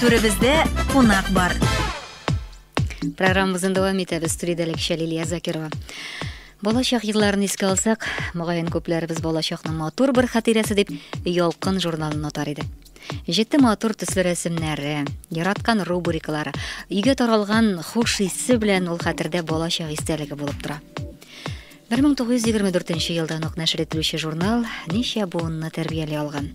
Түребездә кунак бар. Программабызны дәвам итәбез. Студиядә Ләкшә Лилия Закирова. Балачак елларын искә алсак, мөгаен күпләребез балачакның матур бер хатирәсе дип Ялкын журналын отар иде. Җитте матур төсле рәсемнәре, яраткан рубрикалары, өйгә таралган хуш исе белән ул хәтердә балачак истәлеге булып тора. Бер мең тугыз йөз егерме дүртенче елдан ук нәшер ителүче журнал ничә буынны тәрбияли алган.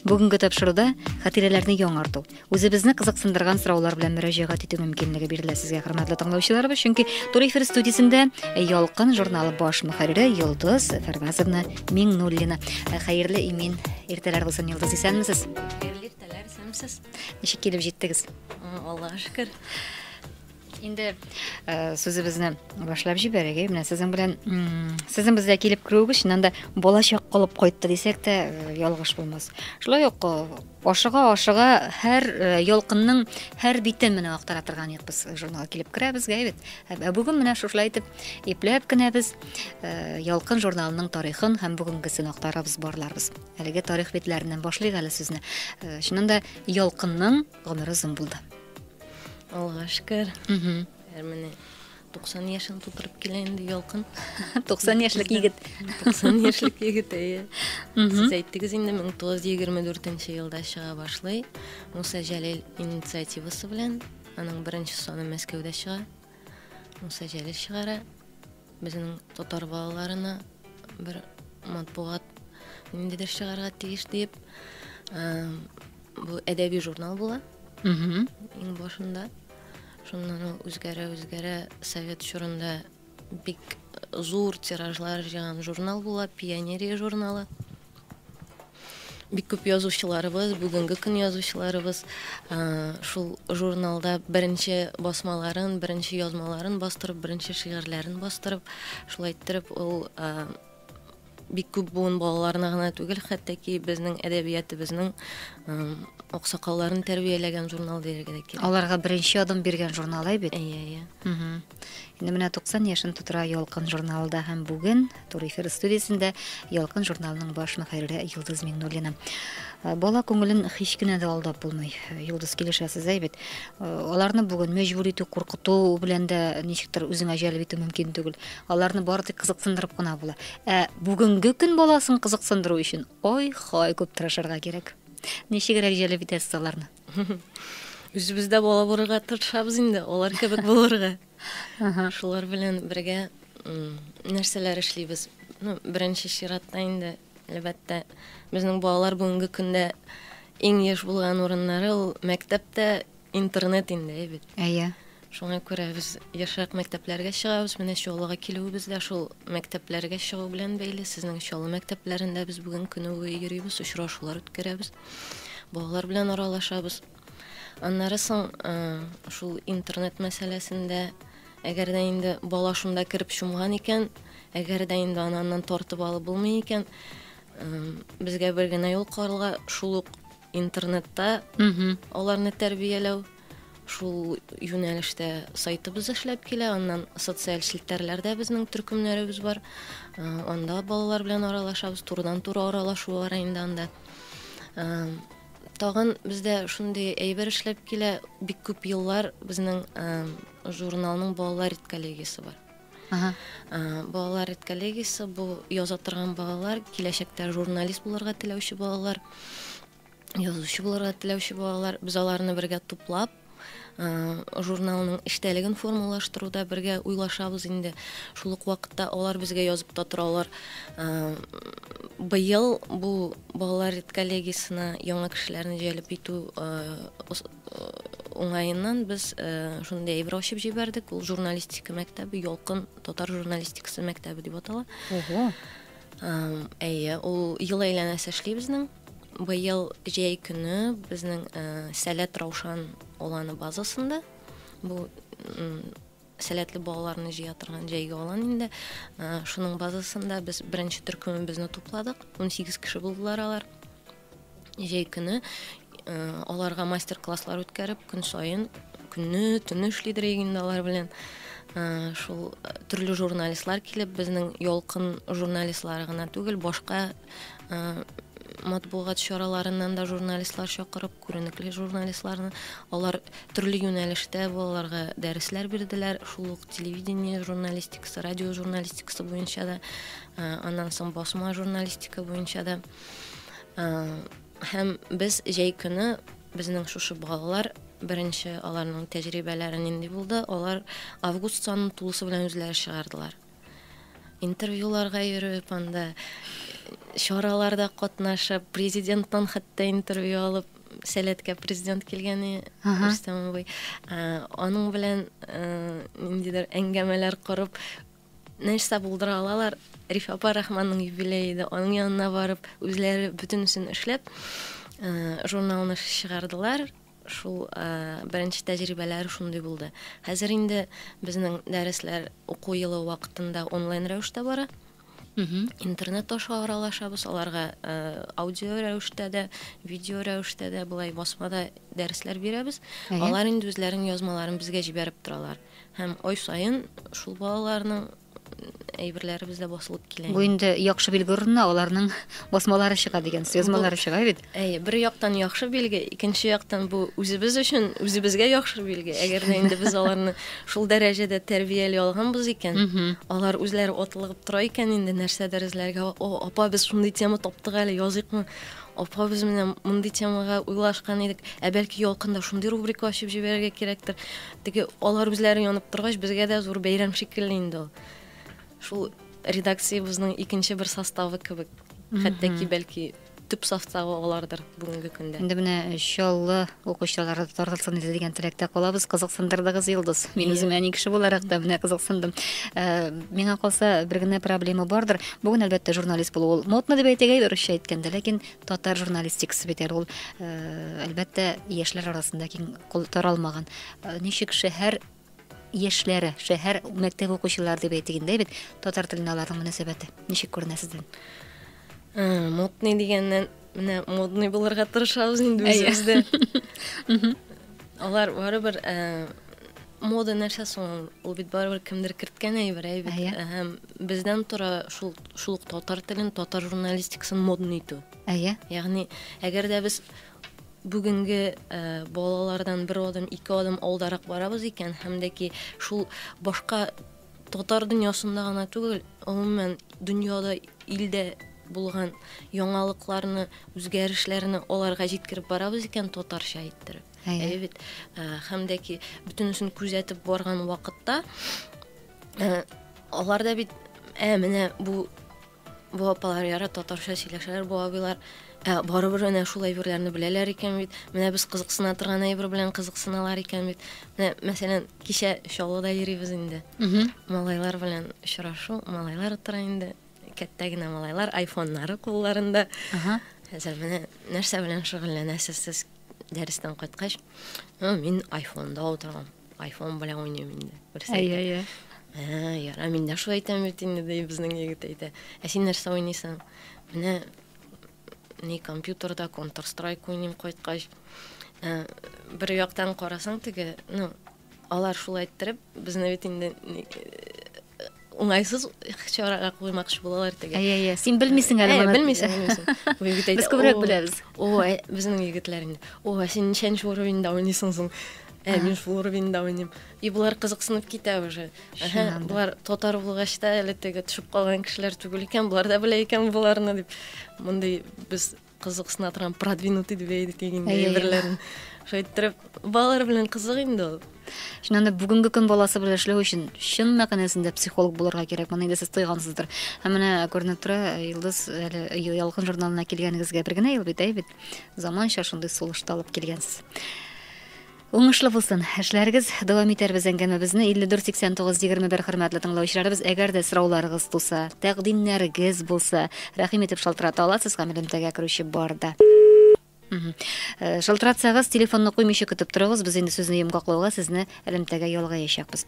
Бүгенге тапшыруда хатирәләрне яңарту, үзебезне кызыксындырган сораулар белән мөрәҗәгать итү мөмкинлеге бирелә сезгә, хөрмәтле тыңлаучыларыбыз, чөнки Тур эфир студиясендә Ялкын журналы баш мөхәррире Йолдыз Фәрвазовна Миңнуллина. Хәерле имин иртәләр булсын, Йолдыз, исәнмесез? Хәерле иртәләр, исәнмесез? Ничек килеп җиттегез? Аллага шөкер. Инде сүзебезне башлап җибәрик. Менә сезнең белән сезнең безгә килеп керүегез чыннан да балачак калып кайтты дисәк тә ялгыш булмас. Шулай ук ашыга ашыга һәр ялкынның һәр битен менә актара торган идек без журналга килеп керәбез гә бит. Ә бүген менә шушылай итеп ипләп кенә без ялкын журналының тарихын һәм бүгенгесен актарабыз барларбыз. Әлеге тарих битләреннән башлыйк әле сүзне. Чыннан да ялкынның Гомер озын булды. Алга шкер. Әр менә 90 яшен тутырып килә инде ялкын. 90 яшьлек егет. 90 яшьлек егет, әйе. Сез әйттегез инде 1924 елда чыга башлый. Муса Җәлил инициативасы белән аның беренче саны Мәскәүдә чыга. Муса Җәлил чыгара. Безнең татар балаларына бер матбугат ниндидер чыгарга тиеш диеп, бу әдәби журнал була. Иң башында. Шуннан ул үзгәрә-үзгәрә совет чорында бик зур тиражлар җыйган журнал була, Пионерия журналы. Бик күп язучыларыбыз, бүгенге көн язучыларыбыз шул журналда беренче басмаларын, беренче язмаларын бастырып, беренче шигырьләрен бастырып, шулай иттереп ул бик күп буын балаларына гына түгел, хәтта ки безнең әдәбиятыбызның аксакалларын тәрбияләгән журнал дияргә дә кирәк. Аларга беренче адым биргән журнал әйбит. Әйе, әйе. Инде менә 90 яшен тутыра Ялкын журналы да һәм бүген Тур эфир студиясендә Ялкын журналының баш мөхәррире Йолдыз Миннуллина. Э, бала күңелен һич кенә дә алдап булмый. Э, Йолдыз килешәсез әй бит. Э, аларны бүген мәҗбүр итү, куркыту белән дә ничектер үзеңә җәлеп итү мөмкин түгел. Аларны бары тик кызыксындырып кына була. Ә бүгенге көн баласын кызыксындыру өчен ой-хой күп тырышырга кирәк. Ничегрәк җәлеп итәсез аларны? Үзебез дә бала булырга тырышабыз инде, алар кебек булырга. Шулар белән бергә нәрсәләр эшлибез? Ну, беренче чиратта инде, әлбәттә, безнең балалар бүгенге көндә иң еш булган урыннары ул мәктәптә интернет инде, әйбит. Әйе. Шуңа күрә без ешрак мәктәпләргә чыгабыз. Менә Чаллыга килүебез дә шул мәктәпләргә чыгу белән бәйле. Сезнең Чаллы мәктәпләрендә без бүген көне буе йөрибез, очрашулар үткәрәбез, балалар белән аралашабыз. Аннары соң шул интернет мәсьәләсендә, әгәр дә инде бала шунда кереп чумган икән, әгәр дә инде аны аннан тартып алып булмый икән, безгә бер генә юл калырга, шул ук интернетта аларны тәрбияләү шул юнәлештә сайтыбыз эшләп килә аннан социаль челтәрләрдә безнең төркемнәребез бар э, анда балалар белән аралашабыз турыдан туры аралашу бар инде анда э, тагын бездә шундый әйбер эшләп килә бик күп еллар безнең э, журналның балалар редколлегиясе бар Ага. Балалар редколлегиясе бу яза торган балалар, киләчәктә журналист булырга теләүче балалар, язучы булырга теләүче балалар. Без аларны бергә туплап, журналның эчтәлеген формалаштыруда бергә уйлашабыз инде. Шул ук вакытта алар безгә язып та торалар. Быел бу балалар редколлегиясенә яңа кешеләрне җәлеп итү Уңаеннан без шундый әйбер ачып җибәрдек, ул журналистика мәктәбе, Ялкын татар журналистикасы мәктәбе дип атала. Ого. Әйе, ул ел әйләнәсе эшли безнең. Быел җәй көне безнең Сәләт Раушан оланы базасында бу Сәләтле балаларны җыя торган җәйге алан инде. Шуның базасында без беренче төркемебезне тупладык. 18 кеше булдылар алар. Җәй көне аларга мастер-класслар үткәреп, көн саен көнне, төнне эшли дирек инде алар белән. Э, шул э, төрле журналистлар килеп безнең ялкын журналистлары гына түгел башка э, матбугат чараларыннан да журналистлар чакырып күренекле журналистларны. Алар төрле юнәлештә балаларга дәресләр бирделәр, шул ук телевидение журналистикасы, радио журналистикасы буенча да, аннан соң басма журналистика буенча да. Һәм без җәй көне безнең шушы балалар беренче аларның тәҗрибәләре нинди булды, алар август санын тулысы белән үзләре чыгардылар. Интервьюларга йөреп, анда чараларда катнашып, президенттан хәтта интервью алып, сәләткә президент килгәне Рөстәм абый. Аның белән ниндидер әңгәмәләр корып, нәрсә булдыра алалар? Рифа апа Рахманның юбилее иде. Аның янына барып, үзләре бөтенесен эшләп, журналны чыгардылар. Шул беренче тәҗрибәләр шундый булды. Хәзер инде безнең дәресләр уку елы вакытында онлайн рәвештә бара. Интернет аша аралашабыз, аларга аудио рәвештә дә, видео рәвештә дә, болай басмада дәресләр бирәбез. Алар инде үзләренең язмаларын безгә җибәреп торалар. Һәм ай саен шул балаларның әйберләребез дә басылып килә. Бу инде яхшы билге урынына аларның басмалары чыга дигән язмалары чыга бит. Әйе, бер яктан яхшы билге, икенче яктан бу үзебез өчен үзебезгә яхшы билге. Әгәр дә инде без аларны шул дәрәҗәдә тәрбияли алганбыз икән, алар үзләре атлыгып тора икән инде нәрсәдер эзләргә. О, апа, без шундый тема таптык әле, языйкмы? Апа, без менә мондый темага уйлашкан идек. Ә бәлки ялкында шундый рубрика ачып җибәрергә кирәктер. Теге алар үзләре янып торгач, безгә дә зур бәйрәм шикелле инде ул. Шул редакциябезнең икенче бер составы кебек. Хәтта ки, бәлки, төп составы алардыр бүгенге көндә. Инде менә Чаллы укучылары тартылсын иде дигән теләктә калабыз. Кызыксындырдыгыз, Йолдыз. Мин үзем әни кеше буларак та менә кызыксындым. Э, миңа калса, бер генә проблема бардыр. Бүген, әлбәттә, журналист булу ул модно дип әйтегә, русча әйткәндә, ләкин Татар журналистикасы бит әле ул, әлбәттә, яшьләр арасында киң кул таралмаган. Ничек шәһәр яшьләре, шәһәр мәктәп укучылары дип әйтик инде бит, татар теленә аларның мөнәсәбәте ничек күренә сездән? Модный дигәннән, менә модный булырга тырышабыз инде үзебез дә. Алар барыбер мода нәрсә соң ул? Ул бит барыбер кемдер керткән әйбер, әй бит. Әйе. Һәм бездән тора шул шул ук татар телен, татар журналистикасын модный итү. Әйе. Ягъни, әгәр дә без бүгенге ә, балалардан бер адым, ике адым алдарак барабыз икән һәм дә ки шул башка Татар дөньясында гына түгел, гомумән, дөньяда, илдә булган яңалыкларны, үзгәрешләрне аларга җиткереп барабыз икән, татарча әйттереп. Әйе. Әйе бит. Ә, Һәм дә ки, бөтенесен күзәтеп барган вакытта, ә, алар да бит, ә, менә бу Бу апалар ярат татарча сөйләшәләр, бу абыйлар ә, барыбер менә шул әйберләрне беләләр икән бит. Менә без кызыксына торган әйбер белән кызыксыналар икән бит. Менә, мәсәлән, кичә Чаллыда йөрибез инде. Малайлар белән очрашу, малайлар утыра инде. Кәттә генә малайлар, айфоннары кулларында. Ага. Хәзер менә нәрсә белән шөгыльләнәсез сез дәрестән кайткач? Ну, мин айфонда утырам. Айфон белән уйныйм инде. Берсе әйтә. Әйе, әйе. Ә, яра, мин дә шулай әйтәм бит инде, ди безнең егет әйтә. Ә син нәрсә уйныйсың? Менә ни компьютерда Counter Strike уйныйм кайткач. Ә, бер яктан карасаң теге, ну, алар шулай иттереп, безне бит инде уңайсыз чарага куймакчы булалар теге әйе әйе син белмисең әле моны белмисең белмисең без күбрәк беләбез о безнең егетләр инде о син ничәнче уровеньда уйныйсың соң ә мин шул уровеньда уйныйм и болар кызыксынып китә уже болар татар булгач та әле теге төшеп калган кешеләр түгел икән болар да белә икән боларны дип мондый без Кызык сынатырган продвинутый дип әйдик инде әйберләрен. Шулай иттереп, балалар белән кызык инде ул. Шуннан да бүгенге көн баласы белән эшләү өчен чын мәгънәсендә психолог булырга кирәк. Моны инде сез тойгансыздыр. Һәм менә күренеп тора, Йолдыз әле Ялкын журналына килгәнегезгә бер генә ел бит, әй бит. Заманча шундый сулышта алып килгәнсез. Уңышлы булсын, эшләрегез, дәвам итәрбез әңгәмәбезне 548921 Хөрмәтле тыңлаучыларыбыз, әгәр дә сорауларыгыз туса, тәкъдимнәрегез булса, рәхим итеп шалтырата аласыз, гамәл элемтәгә керүче бар да. Э, шалтыратсагыз, телефонны куймыйча көтеп торыгыз, без инде сүзне йомгаклауга сезне элемтәгә ялгаячакбыз.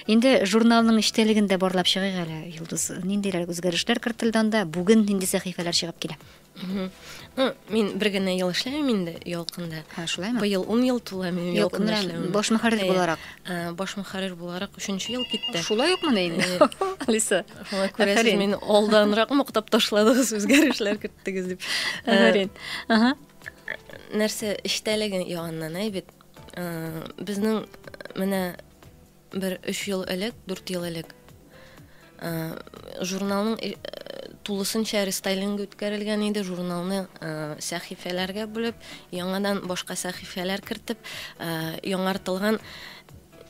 Инде журналның эчтәлеген дә барлап чыгыйк әле, Юлдыз. Ниндиләр үзгәрешләр кертелде анда? Бүген нинди сәхифәләр чыгып килә? Ну, мин бер генә ел эшләмим инде Ялкында. Ха, шулаймы? Быел 10 ел тула минем Ялкында Юк, эшләвем. Баш мөхәррир Әйе. буларак. Ә, Баш мөхәррир буларак 3 ел китте. Шулай ук менә инде. Алиса. Шулай күрәсез, Афәрин. мин алданрак мактап ташладыгыз, үзгәрешләр керттегез дип. Ә, Афәрин. Ага. нәрсә эчтәлеге ягыннан әй бит. Ә, Безнең менә Бер өч ел элек, дүрт ел элек журналның тулысынча рестайлинг үткәрелгән иде, журналны сәхифәләргә бүлеп, яңадан башка сәхифәләр кертеп, яңартылган,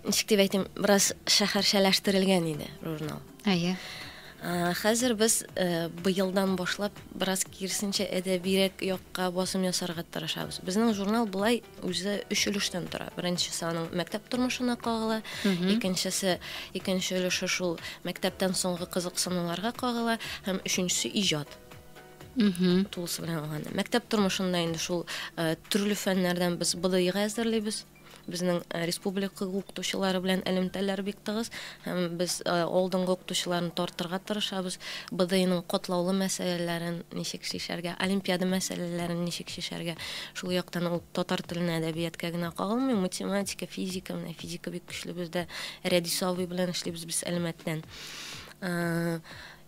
ничек дип әйтим, бераз шәһәрчәләштерелгән иде журнал. Әйе. Хәзер без быелдан башлап бераз кирсенчә әдәбирәк якка басым ясарга тырышабыз. Безнең журнал булай үзе өч өлештән тора. Беренче саның мәктәп тормышына кагыла, икенчесе, икенче өлеше шул мәктәптән соңгы кызыксынуларга кагыла һәм өченчесе иҗат. Тулысы белән алганда. Мәктәп тормышында инде шул төрле фәннәрдән без БДИга әзерлибез. Безнең республика укытучылары белән элемтәләр бик тыгыз һәм без алдынгы укытучыларны тартырга тырышабыз. БДИның катлаулы мәсьәләләрен ничек чишәргә, олимпиада мәсьәләләрен ничек чишәргә. Шул яктан ул татар теленә, әдәбияткә генә кагылмый, математика, физика, менә физика бик көчле бездә. Рәдис абый белән эшлибез без Әлмәттән.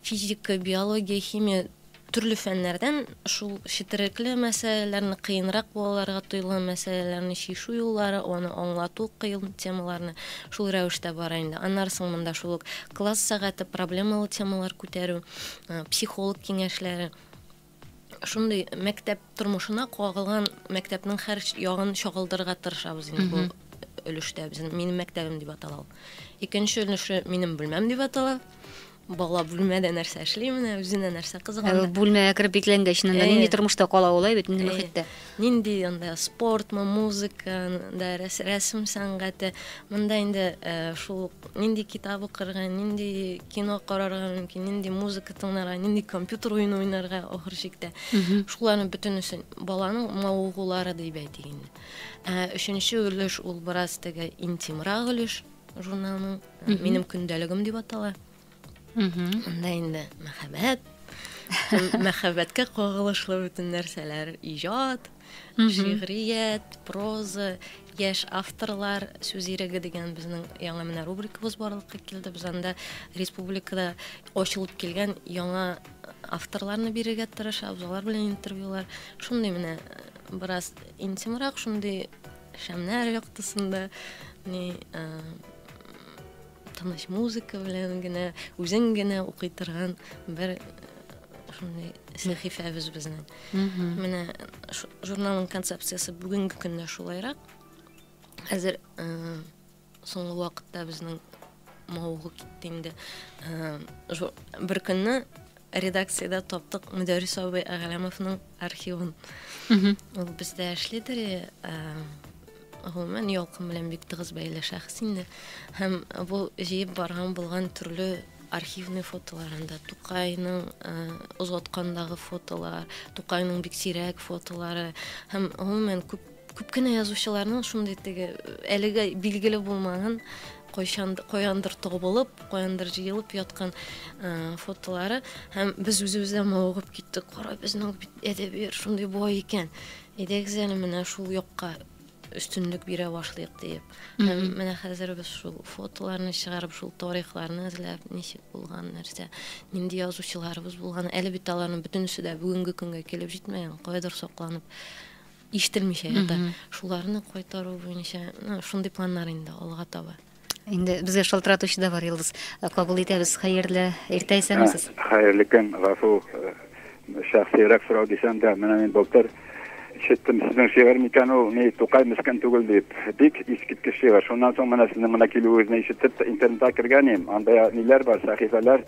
Физика, биология, химия Төрле фәннәрдән шул четерекле мәсьәләләрне, кыенрак балаларга тоелган мәсьәләләрне чишү юллары, аны аңлату, кыен темаларны шул рәвештә бара инде. Аннары соң монда шул ук класс сәгате, проблемалы темалар күтәрү, психолог киңәшләре, шундый мәктәп тормышына кагылган мәктәпнең һәр ягын чагылдырырга тырышабыз инде бу өлештә. Безнең Минем мәктәбем дип атала ул. Икенче өлеше Минем бүлмәм дип атала. Бала бүлмәдә нәрсә эшли, менә үзенә нәрсә кызыган. Ә бүлмәгә кереп бикләнгәч, шунда э. нинди тормышта кала ул, бит нинди э. мөхиттә? Нинди анда спортмы, музыка, да рәсем сәнгате. Монда инде э, шул нинди китап укырга, нинди кино карарга мөмкин, нинди музыка тыңларга, нинди компьютер уены уйнарга ахыр чиктә. Шуларның бөтенесен баланың мавыгулары дип әйтик инде. Өченче өлеш ул бераз теге интимрак өлеш. журналының минем көндәлегем дип атала анда инде мәхәббәт мәхәббәткә кагылышлы бөтен нәрсәләр иҗат шигърият проза яшь авторлар сүз иреге дигән безнең яңа менә рубрикабыз барлыкка килде без анда республикада ачылып килгән яңа авторларны бирергә тырышабыз алар белән интервьюлар шундый менә бераз интимрак шундый Шәмнәр яктысында, ни, ә, тыныч музыка белән генә, үзең генә укый торган бер шундый сәхифәбез безнең. Менә журналның концепциясе бүгенге көндә шулайрак. Хәзер Соңгы вакытта безнең мавыгу китте инде. Э, бер көнне редакциядә таптык Мөдәррис абый Әгәләмовның архивын. Ул бездә эшлидер. Э, гомумән ялкын белән бик тыгыз бәйле шәхес инде. Һәм бу җыеп барган булган төрле архивный фотоларында Тукайның э, озаткандагы фотолар, Тукайның бик сирәк фотолары һәм гомумән күп Күп кенә язучыларның шундый теге әлегә билгеле булмаган кайчан каяндыр табылып, каяндыр җыелып яткан фотолары һәм без үзебез дә мавыгып киттек. Кара, безнең бит әдәбият шундый бай икән. Әйдәгез әле менә шул якка өстенлек бирә башлыйк диеп. Һәм менә хәзер без шул фотоларны чыгарып, шул тарихларны эзләп, ничек булган нәрсә, нинди язучыларыбыз булган. Әле бит аларның бөтенесе дә бүгенге көнгә килеп җитмәгән, кайдыр сакланып ишетелмичә ята. Шуларны кайтару буенча шундый планнар инде алга таба. Инде безгә шалтыратучы да бар, Йолдыз. Кабул итәбез. Хәерле иртә, исәнмесез. Хәерле көн, гафу, шәхсиерәк сорау дисәм дә, менә мин былтыр ишеттем, сезнең шигырь микән ул, ни, Тукай мескен түгел дип. Бик искиткеч шигырь. Шуннан соң менә сезнең монда килүегезне ишетеп, интернетка кергән идем, анда ниләр бар, сәхифәләр,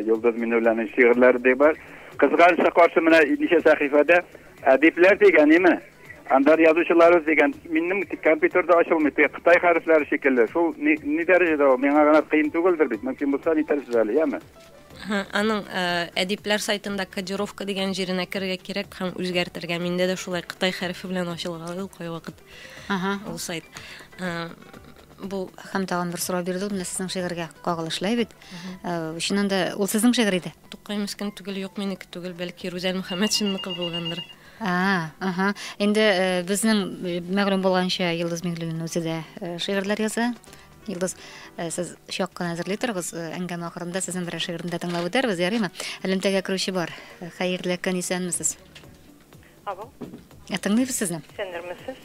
Йолдыз Миннулланың шигырьләре дә бар. Кызганычка каршы, менә ничә сәхифәдә Әдипләр дигәнеме? Әнвәр язучылары дигән минем компьютерда ачылмый, теге кытай хәрефләре шикелле. Шул ни, ни дәрәҗәдә ул? Миңа гына кыен түгелдер бит. Мөмкин булса әйтәрсез әле, яме? Һы, аның э, әдипләр сайтында кодировка дигән җиренә керергә кирәк һәм үзгәртергә. Миндә дә шулай кытай хәрефе белән ачылган ул кайвакыт Ага. ул сайт. Э, Бу һәм тагын бер сорау бирде ул менә сезнең шигырьгә кагылышлы бит. Чыннан да ул сезнең шигырь иде. Тукай мескен түгел, юк минеке түгел, бәлки Рүзәл Мөхәммәтшинныкы булгандыр. А, аһа. Инде безнең мәгълүм булганча Йолдыз Миңлуллина үзе дә шигырьләр яза. Йолдыз, сез чак кына әзерли торыгыз, әңгәмә ахырында сезнең берәр шигырьне дә тыңлап үтәрбез, ярыймы? Элемтәгә керүче бар. Хәерле көн, исәнмесез. Алло. Ә тыңлыйбыз сезне. Исәннәрмесез?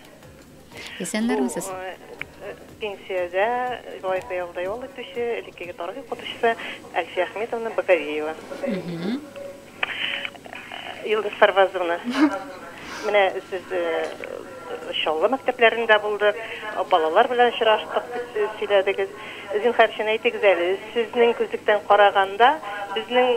Исәннәрмесез. Э, пенсиядә Илай Кыялда ял итүче, элеккеге тарих укытучысы Әлфия Әхметовна Баковеева. Илдус Сарвазовна. Менә сез э, Чаллы мәктәпләрендә булдык, балалар белән очраштык дип э, сөйләдегез. Зинхар өчен әйтегез әле, сезнең күзлектән караганда, безнең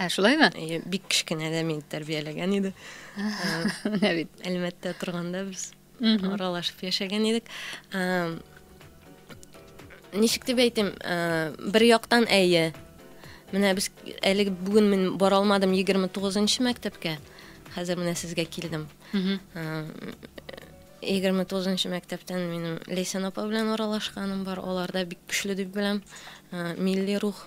Ә шулаймы? Әйе, бик кечкенәдә мине тәрбияләгән иде. Менә бит. Әлмәттә торганда без аралашып яшәгән идек. Ничек дип әйтим, бер яктан әйе. Менә без әле бүген мин бара алмадым 29-нчы мәктәпкә. Хәзер менә сезгә килдем. 29-нчы мәктәптән минем Лейсан апа белән аралашканым бар. Аларда бик көчле дип беләм. Милли рух.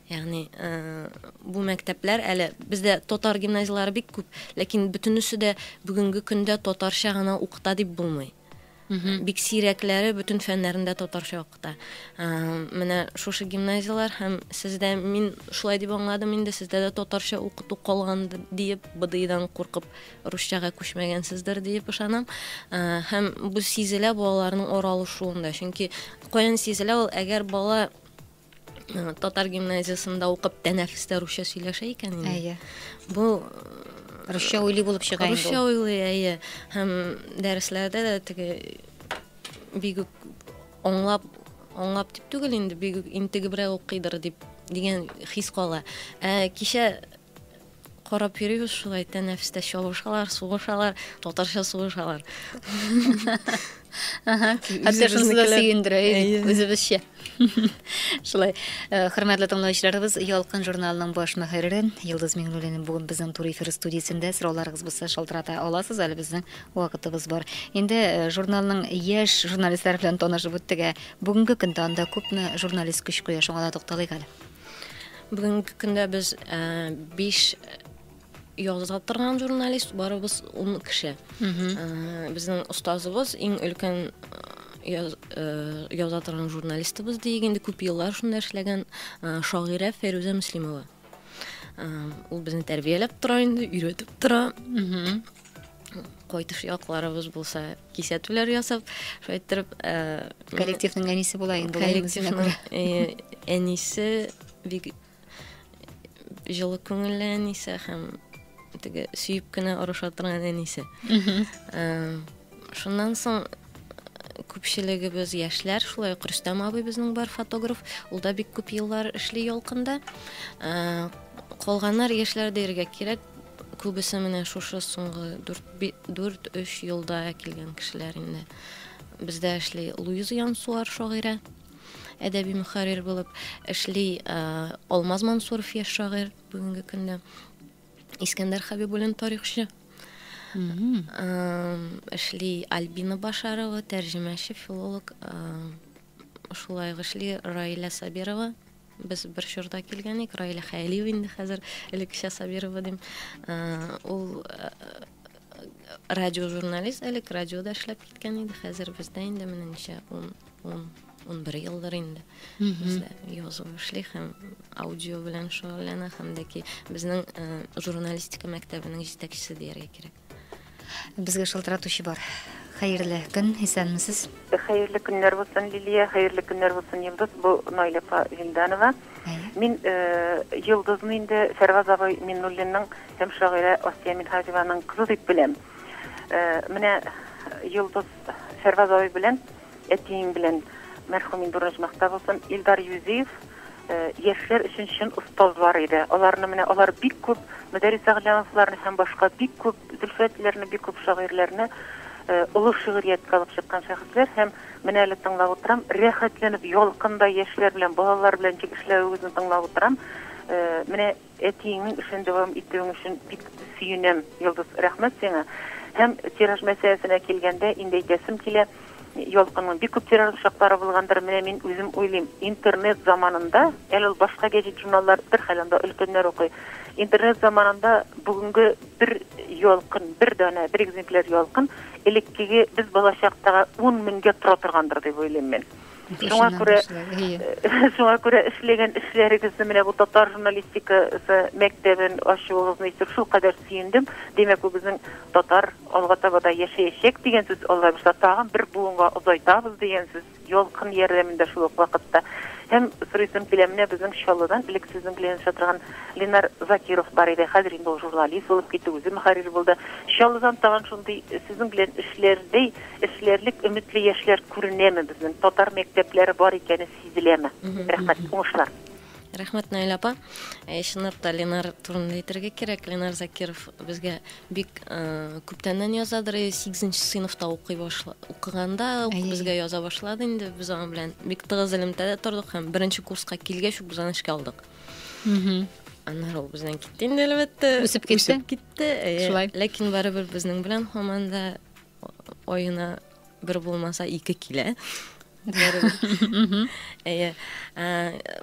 Ягъни, бу мәктәпләр әле бездә татар гимназияләре бик күп, ләкин бөтенесе дә бүгенге көндә татарча гына укыта дип булмый. Бик сирәкләре бөтен фәннәрендә татарча укыта. Менә шушы гимназияләр һәм сездә мин шулай дип аңладым инде, сездә дә татарча укыту калган диеп, БДИдан куркып русчага күчмәгәнсездер диеп ышанам. Һәм бу сизелә балаларның ора алышуында. Чөнки каян сизелә ул, әгәр бала Татар гимназиясендә укып тәнәфестә русча сөйләшә икән инде. Әйе. Бу русча уйлый булып чыга инде. Русча уйлый, әйе. Һәм дәресләрдә дә теге бигүк аңлап аңлап дип түгел инде бигүк интегебрәк укыйдыр дип дигән хис кала. Ә кичә Карап йөрибез шулай, тәнәфестә чабышалар, сугышалар, татарча сугышалар. Хәтер шунысы да сөендерә, үзебезчә. Шулай, э, хөрмәтле тыңлаучыларыбыз, Ялкын журналының баш мөхәррире Йолдыз Миңнуллина бүген безнең Тур эфир студиясендә. Сорауларыгыз булса, шалтырата аласыз, әле безнең вакытыбыз бар. Инде э, журналның яшь журналистлары белән танышып үттек, ә бүгенге көндә анда күпме журналист көч куя, шуңа да тукталыйк әле. Бүгенге көндә без биш яза торган журналист, барыбыз ун кеше. Безнең остазыбыз иң өлкән яза торган журналистыбыз диек инде күп еллар шунда эшләгән шагыйрә Фәйрүзә Мөслимова. Ул безне тәрбияләп тора инде, өйрәтеп тора. кайтыш якларыбыз булса кисәтүләр ясап шулай иттереп э, коллективның әнисе була инде коллективның э, әнисе бик җылы күңелле әнисе һәм теге сөеп кенә орыша торган әнисе э, шуннан соң күпчелегебез яшьләр шулай ук рөстәм абый безнең бар фотограф ул да бик күп еллар эшли ялкында калганнар яшьләр дияргә кирәк Күбесе менә шушы соңгы дүрт-өч елда килгән кешеләр инде. Бездә эшли Луиза Янсуар шагыйрә, әдәби мөхәррир булып эшли Алмаз Мансуров яшь шагыйрь бүгенге көндә. Искәндәр Хәбибуллин тарихчы. Эшли Альбина Башарова, тәрҗемәче, филолог. Шулай эшли Раилә Сабирова, Без бер чорда килгән ик, Раилә Хәялиева инде хәзер, элеккечә Сабирова дим. Ул радиожурналист элек радиода эшләп киткән иде, хәзер бездә инде менә ничә, ун, ун, ун бер елдыр инде бездә язу эшли һәм аудио белән шөгыльләнә һәм дә ки безнең журналистика мәктәбенең җитәкчесе дияргә кирәк. Безгә шылтыратучы бар. Хәерле көн, исәнмесез. Хәерле көннәр булсын, Лилия, хәерле көннәр булсын, Йолдыз, бу Наилә апа Винданова. Әйе. Мин Йолдызны инде Фәрваз абый Миннуллинның һәм шагыйрә Асия Минһаҗеваның кызы дип беләм. Менә Йолдыз Фәрваз абый белән Әтиең белән мәрхүм инде урынжмакта булсын, Илдар Юзиев яшьләр өчен чын остазлар иде. Аларны менә алар бик күп Мөдәрис Әгълямовларны һәм башка бик күп Зөлфәтләрне, бик күп шагыйрьләрне олы шигърияткә алып чыккан шәхесләр һәм менә әле тыңлап утырам, рәхәтләнеп, ялкындай яшьләр белән, балалар белән ничек эшләвегезне тыңлап утырам. Менә Әтиеңнең эшен дәвам итүең өчен бик сөенәм, Йолдыз. Рәхмәт сиңа. Һәм тираж мәсьәләсенә килгәндә, инде әйтәсем килә, Ялкынның бик күп тиражлы чаклары булгандыр. Менә мин үзем уйлыйм, интернет заманында, әле ул башка гәҗит-журналлар бер хәл, анда өлкәннәр укый. Интернет заманында бүгенге бер Ялкын, бер данә, бер экземпляр Ялкын элеккеге без балачактагы ун меңгә тора торгандыр дип уйлыйм мин. Шуңа күрә, шуңа күрә эшләгән эшләрегезне менә бу татар журналистикасы мәктәбен ачуыгызны ишетеп шул кадәр сөендем. Димәк, бу безнең татар алга таба да яшәячәк дигән сүз, Алла бирса, тагын бер буынга озайтабыз дигән сүз, ялкын ярдәмендә шул ук вакытта. Һәм сорыйсым килә, менә безнең Чаллыдан элек сезнең белән языша торган Ленар Закиров бар иде, хәзер инде ул журналист булып китте, үзе мөхәррир булды. Чаллыдан тагын шундый сезнең белән эшләрдәй Эшләрлек өметле яшьләр күренәме безнең? Татар мәктәпләре бар икәне сизеләме? Рәхмәт, уңышлар! Рәхмәт, Наилә апа. Ә, чынлап та, Ленар турында әйтергә кирәк. Ленар Закиров безгә бик күптәннән язадыр, э, сигезенче сыйныфта укый башла, укыганда ук безгә яза башлады инде. Без аның белән бик тыгыз элемтәдә тордык һәм беренче курска килгәч үк без аны эшкә алдык. Аннары ул бездән китте инде, әлбәттә. Үсеп китте. Үсеп китте, әйе. Шулай. Ләкин барыбер безнең белән һаман да Аена бер булмаса ике килә. Әйе.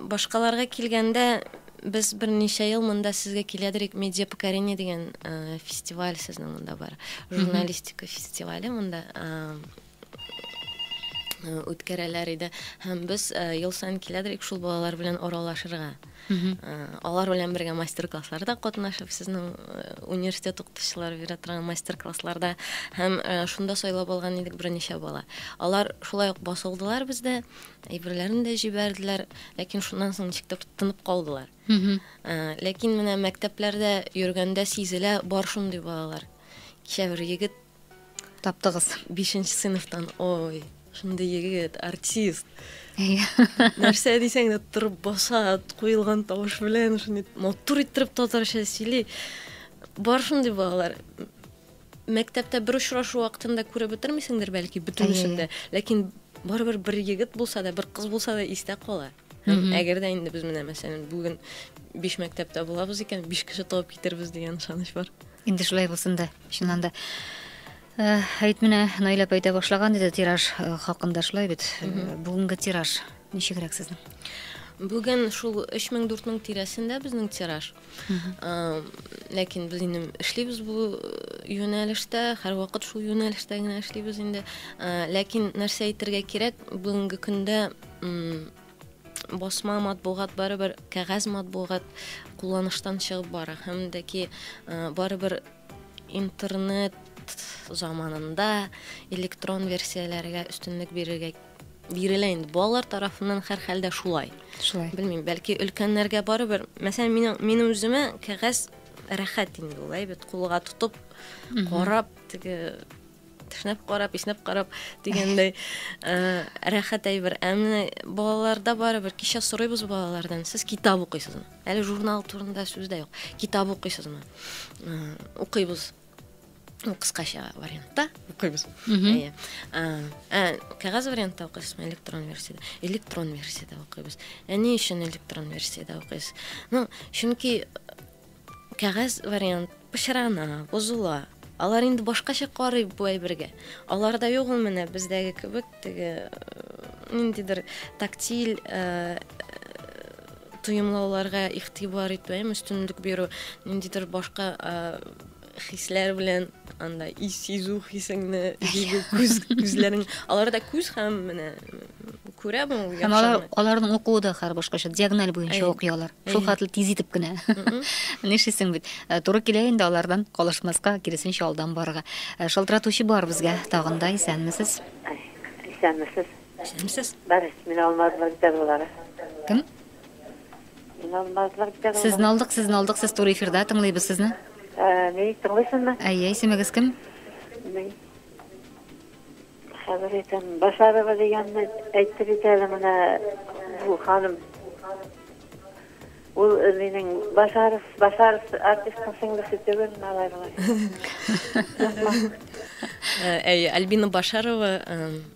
Башкаларга килгәндә без берничә ел монда сезгә киләдер ик медиа покорение дигән фестиваль сезнең монда бар журналистика фестивале монда үткәрәләр иде һәм без ел саен киләдер ик шул балалар белән аралашырга Алар белән бергә мастер-классларда катнашып, сезнең университет укытучылары бирә торган мастер-классларда һәм шунда сайлап алган идек берничә бала. Алар шулай ук басылдылар бездә, әйберләрен дә җибәрделәр, ләкин шуннан соң ничек тә тынып калдылар. Ләкин менә мәктәпләрдә йөргәндә сизелә бар шундый балалар. Кичә бер егет Таптыгыз. Бишенче сыйныфтан. Ой, шундый егет, артист. Нәрсә дисәң дә торып баса, куелган тавыш белән шундый матур иттереп татарча сөйли. Бар шундый балалар. Мәктәптә бер очрашу вакытында күреп бетермисеңдер бәлки бөтенесен дә. Ләкин барыбер бер егет булса да, бер кыз булса да истә кала. Һәм әгәр дә инде без менә мәсәлән бүген биш мәктәптә булабыз икән, биш кеше табып китербез дигән ышаныч бар. Инде шулай булсын да, чыннан да. Э, әйт менә, Наилә апа әйтә башлаган иде тираж э, хакында шулай бит. Э, бүгенге тираж ничегрәк сезнең? Бүген шул 3000-4000 тирәсендә безнең тираж. ләкин без инде эшлибез бу юнәлештә һәрвакыт шул юнәлештә генә эшлибез инде ләкин нәрсә әйтергә кирәк бүгенге көндә басма матбугат барыбер кәгазь матбугат кулланыштан чыгып бара һәм дә ки барыбер Интернет заманында электрон версияләргә өстенлек бирергә бирелә инде. Балалар тарафыннан хәр хәлдә шулай. Шулай. Белмим, бәлки өлкәннәргә барыбер. Мәсәлән, минем минем үземә кәгазь рәхәт инде ул, әйбәт кулга тотып, карап, теге Тешнәп карап, иснәп карап дигәндәй э, рәхәт әйбер. Ә менә балаларда барыбер кичә сорыйбыз балалардан, сез китап укыйсызмы? Әле журнал турында сүз дә юк. Китап укыйсызмы? Э, Укыйбыз. Ну, кыскача вариантта укыйбыз. Әйе. Ә, ә, кәгазь вариантта укыйсызмы, электрон версияда? Электрон версияда укыйбыз. Ә ни өчен электрон версияда укыйсыз? Ну, чөнки Кәгазь вариант пычрана, бозыла. Алар инде башкача карый бу әйбергә. Аларда юк ул менә бездәге кебек теге ниндидер тактиль тоемлауларга игътибар итү, әм өстенлек бирү, ниндидер башка хисләр белән анда и сизү хисеңне җиде күз күзләрең аларда күз һәм менә күрә бу һәм алар аларның укуы да хәр башкача диагональ буенча укый алар шул хәтле тиз итеп кенә нишлисең бит э, туры килә инде алардан калышмаска киресенчә алдан барырга э, шалтыратучы бар безгә тагын да исәнмесез исәнмесез исәнмесез бар мин алмаз вәлидәловалары кем Сезне алдык, сезне алдык, сез туры эфирда, тыңлыйбыз сезне. Әни, тыңлыйсыңмы? Әйе, исемегез кем? Мин. Хәзер әйтәм, Башарова дигәнне әйтте бит әле менә бу ханым. Ул э, минем Башаров, Башаров артистның сеңлесе түгел, малай Әйе, Альбина Башарова э,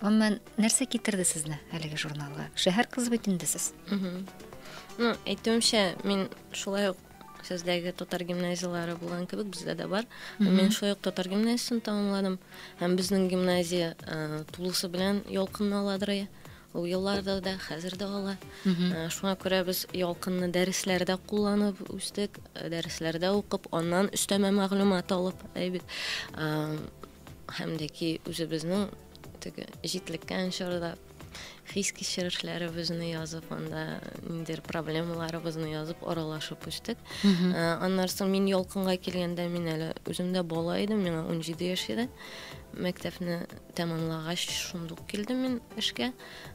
Гомумән, нәрсә китерде сезне әлеге журналга? Шәһәр кызы бит инде сез. Ну, әйтүемчә, мин шулай ук сездәге татар гимназияләре булган кебек бездә дә бар. Мин шулай ук татар гимназиясен тәмамладым. Һәм безнең гимназия э, тулысы белән ялкынны аладыр. Ул елларда да, хәзер дә ала. Э, Шуңа күрә без ялкынны дәресләрдә кулланып үстек, э, дәресләрдә укып, аннан өстәмә мәгълүмат алып, әйбит. Э, Һәм дә ки үзебезнең теге җитлеккән чорда хис кичерешләребезне язып анда ниндидер проблемаларыбызны язып аралашып үстек ә, аннан соң мин ялкынга килгәндә мин әле үзем дә бала идем миңа унҗиде яшь иде мәктәпне тәмамлагач шундук килдем мин эшкә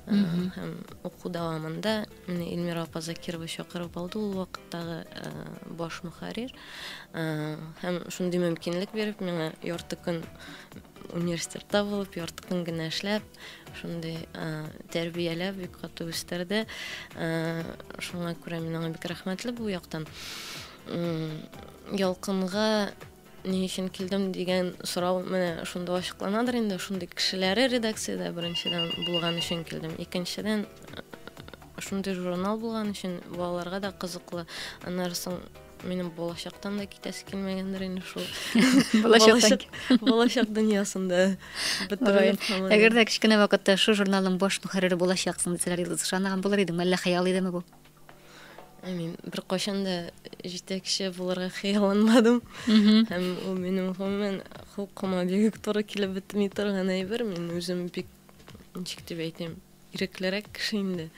һәм уку дәвамында Менә Эльмира апа Закирова чакырып алды ул вакыттагы баш мөхәррир. Һәм шундый мөмкинлек биреп, миңа ярты көн университетта булып, ярты көн генә эшләп, шундый тәрбияләп, бик каты үстерде. Шуңа күрә мин аңа бик рәхмәтле бу яктан. Ялкынга Ни өчен килдем дигән сорау менә шунда ачыкланадыр инде. Шундый кешеләре редакциядә беренчедән булган өчен килдем. Икенчедән, шундый журнал булган өчен балаларга да кызыклы. Аннары соң минем балачактан да китәсе килмәгәндер инде шул. Балачак дөньясында бетереп калган. Әгәр дә кечкенә вакытта шу журналның баш мөхәррире булачаксың дисәләр, Илдус, ышанмаган булыр идеңме, әллә хыял идеме бу? I mean, беркайчан да җитәкче булырга хыялланмадым. Һәм ул минем гомумән хокума бик туры килеп бетми торган әйбер. Мин үзем бик ничек дип әйтим, иреклерәк кеше инде.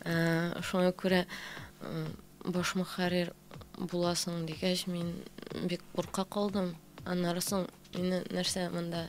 Ә, шуңа күрә баш мөхәррир буласың дигәч, мин бик курка калдым. Аннары соң мине нәрсә монда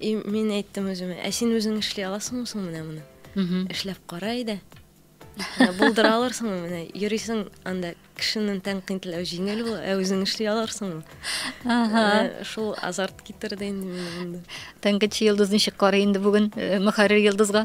И мин әйттем үземә, ә син үзең эшли аласыңмы соң менә моны? Эшләп кара иде. Булдыра алырсыңмы менә? Йөрисең анда кешенен тәнкыйтьләү җиңел ул, ә үзең эшли алырсыңмы? Ага. Э, шул азарт китерде инде мине монда. Тәнкыйтьче йолдыз ничек карый инде бүген э, мөхәррир йолдызга?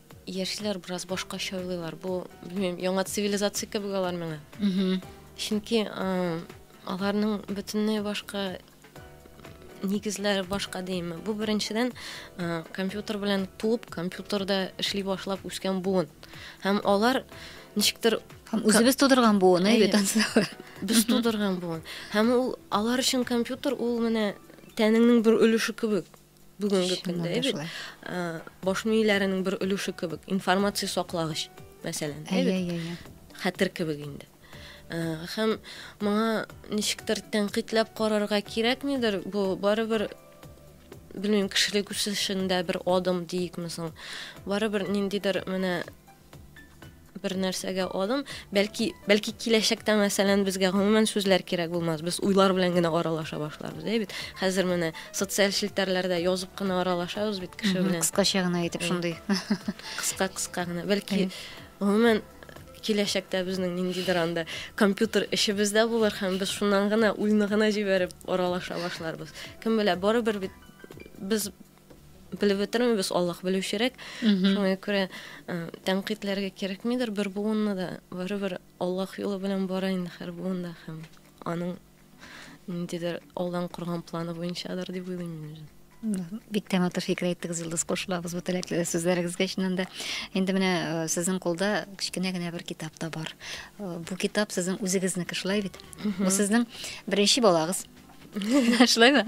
Яшьләр бераз башкача уйлыйлар. Бу, белмим, яңа цивилизация кебек алар миңа. Чөнки аларның бөтенләй башка нигезләре башка димме. Бу беренчедән компьютер белән туып, компьютерда эшли башлап үскән буын. Һәм алар ничектер Һәм үзебез тудырган буын, әйе бит ансыз. Без тудырган буын. Һәм ул алар өчен компьютер ул менә тәнеңнең бер өлеше кебек. бүгенге көндә әйбит баш мийләренең бер өлеше кебек информация саклагыч мәсәлән әйбит хәтер кебек инде һәм моңа ничектер тәнкыйтьләп карарга кирәкмидер бу барыбер белмим кешелек үсешендә бер адым диикме соң барыбер ниндидер менә бер нәрсәгә адым, бәлки, бәлки киләчәктә, мәсәлән, безгә гомумән сүзләр кирәк булмас, без уйлар белән генә аралаша башларбыз, әй бит. Хәзер менә социаль челтәрләрдә язып кына аралашабыз бит кеше белән. Кыскача гына әйтеп шундый. Кыска кыска гына. Бәлки гомумән киләчәктә безнең ниндидер анда компьютер эшебез дә булыр һәм без шуннан гына уйны гына җибәреп аралаша башларбыз. Кем белә, барыбер бит без Белеп бетермим, без Аллаһ белүчерәк. Шуңа күрә тәнкыйтьләргә кирәкмидер, бер буынны да барыбер Аллаһ юлы белән бара инде һәр буында һәм аның ниндидер алдан корган планы буенчадыр дип уйлыйм мин. Бик тә матур фикер әйттегез, Йолдыз, кушылабыз бу теләкле сүзләрегезгә чыннан да. Инде менә э, сезнең кулда кечкенә генә бер китап та бар. Э, бу китап сезнең үзегезнеке шулай бит? Бу сезнең беренче балагыз. Шулаймы?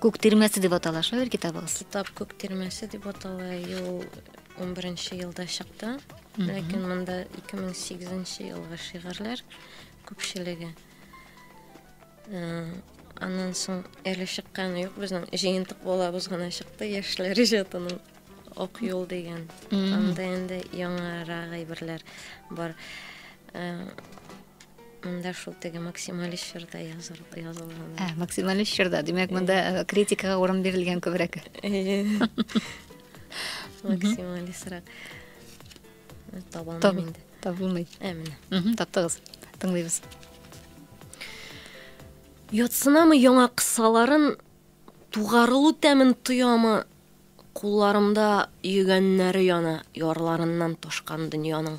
Күк тирмәсе дип атала шул бер китабыгыз. Китап күк тирмәсе дип атала. Ел 11 елда чыкты. Ләкин монда 2008 елга шигырьләр күпчелеге. Аннан соң әле чыкканы юк безнең җыентык балабыз гына чыкты яшьләр иҗатының ок юл дигән анда инде яңарак әйберләр бар Монда шул теге максималист чорда язылган. Ә, максималист чорда. Димәк, монда э, критикага урын бирелгән күбрәк. Максималистрак. Табылмый инде. Табылмый. Ә, менә. Мм, таптыгыз. Тыңлыйбыз. Ятсынамы яңа кысаларын тугарылу тәмен тоямы Кулларымда йөгәннәре яна ярларыннан ташкан дөньяның.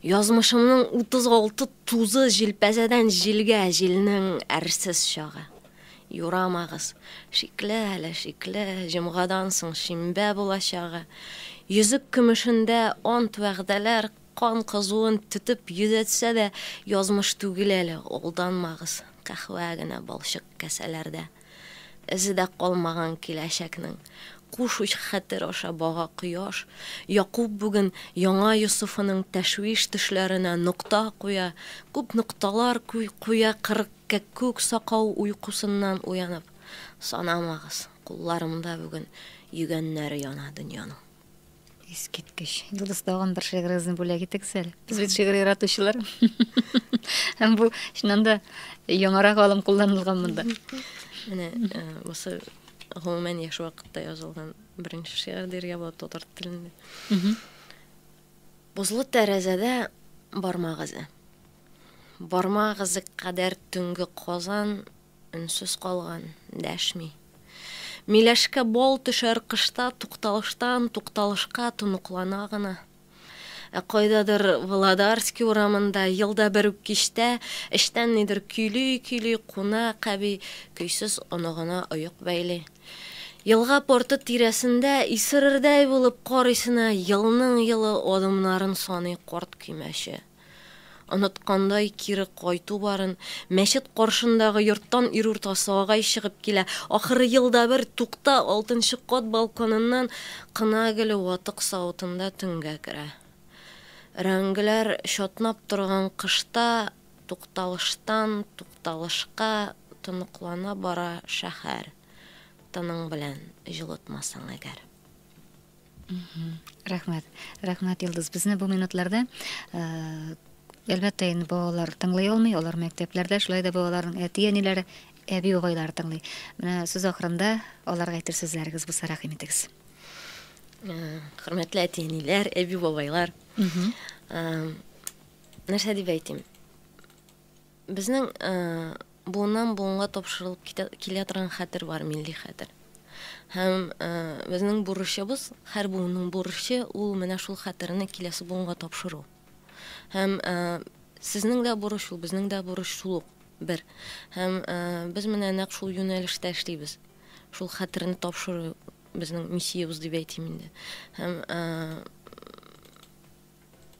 Язмышымның 36 тузы җилпәзәдән җилгә, җилнең әрсез чагы. Юрамагыз, шикле әле, шикле, җомгадан соң шимбә булачагы. Йөзек көмешендә ант-вәгъдәләр кан кызуын түтеп йөдәтсә дә, язмыш түгел әле, алданмагыз, каһвә генә балчык кәсәләрдә. Эзе дә калмаган киләчәкнең. Куш уч хәтер аша бага кояш. Якуб бүген яңа Йосыфының тәшвиш төшләренә нокта куя. Күп нокталар куя кырык кәккүк сакау уйкусыннан уянып. Санамагыз, кулларымда бүген йөгәннәре яна дөньяның. Искиткеч. Йолдыз тагын бер шигырегезне бүләк итегез әле. Без бит шигырь яратучылар. Һәм бу чыннан да яңарак алым кулланылган монда. Менә э, бусы гомумән яш вакытта язылган беренче шигырь диргә була татар телендә. Бозлы тәрәзәдә бармагызы. Бармагызы кадәр төнге Казан Өнсез калган, дәшми. Миләшкә бал төшәр кышта тукталыштан тукталышка тоныклана гына. Ә кайдадыр Володарский урамында елда бер үк кичтә эчтән нидер көйли-көйли кунак әби көйсез оныгына оек бәйли. Елга порты тирәсендә исерердәй булып карыйсына елның-елы адымнарын саный карт көймәче. Оныткандай кире кайту барын, мәчет каршындагы йорттан ирурта сагай чыгып килә, ахры елда бер, тукта, алтынчы кат балконыннан кына гел ватык савытында төнгә керә. Рәңгеләр чатнап торган кышта тукталыштан тукталышка тоныклана бара шәһәр, тының белән җылытмасаң әгәр. Рәхмәт. Рәхмәт, Илдус. Безне бу минутларда әлбәттә инде балалар тыңлый алмый, алар мәктәпләрдә, шулай да балаларның әти-әниләре, әби-угайлары тыңлый. Менә сүз ахырында аларга әйтер сүзләрегез булса рәхим итегез. Хөрмәтле әти-әниләр, әби-бабайлар. Нәрсә дип әйтим? Безнең буыннан буынга тапшырылып китә килә торган хәтер бар, милли хәтер. Һәм безнең бурычыбыз, һәр буынның бурычы ул менә шул хәтерне киләсе буынга тапшыру. Һәм сезнең дә бурыч ул, безнең дә бурыч шул ук бер. Һәм без менә нәкъ шул юнәлештә эшлибез. Шул хәтерне тапшыру безнең миссиябез дип әйтим инде. Һәм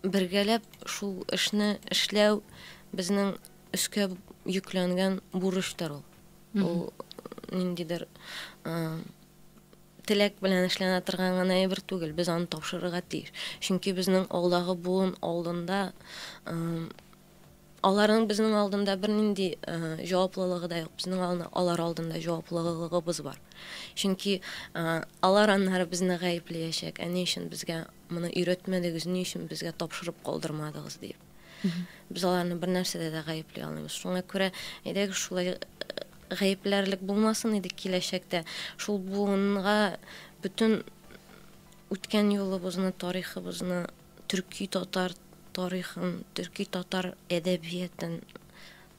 Бергәләп шул эшне эшләү безнең өскә йөкләнгән бурычтыр ул. Ул ниндидер теләк белән эшләнә торган гына әйбер түгел, без аны тапшырырга тиеш. Чөнки безнең алдагы буын алдында Аларның безнең алдында бернинди җаваплылыгы да юк, безнең алдында алар алдында җаваплылыгыбыз бар. Чөнки алар аннары безне гаепләячәк, әни өчен безгә моны өйрәтмәдегез, ни өчен безгә тапшырып калдырмадыгыз дип. Без аларны бер нәрсәдә дә гаепли алмыйбыз. Шуңа күрә әйдәгез шулай гаепләрлек булмасын иде киләчәктә. Шул буынга бөтен үткән юлыбызны, тарихыбызны төрки-татар тарихын, төрки-татар әдәбиятын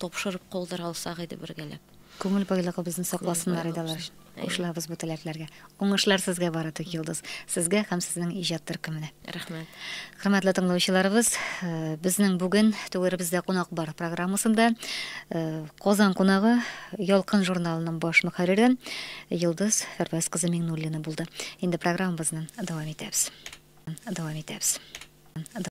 тапшырып калдыра алсак иде бергәләп. Күңел байлыгыбызны сакласыннар иде алар өчен. Кушылабыз бу теләкләргә. Уңышлар сезгә бары тик, Йолдыз. Сезгә һәм сезнең иҗат төркеменә. Рәхмәт. Хөрмәтле тыңлаучыларыбыз, э, безнең бүген Түгәребездә кунак бар программасында э, Казан кунагы Ялкын журналының баш мөхәррире Йолдыз Фәрвәз кызы Миңнуллина булды. Инде программабызны дәвам итәбез.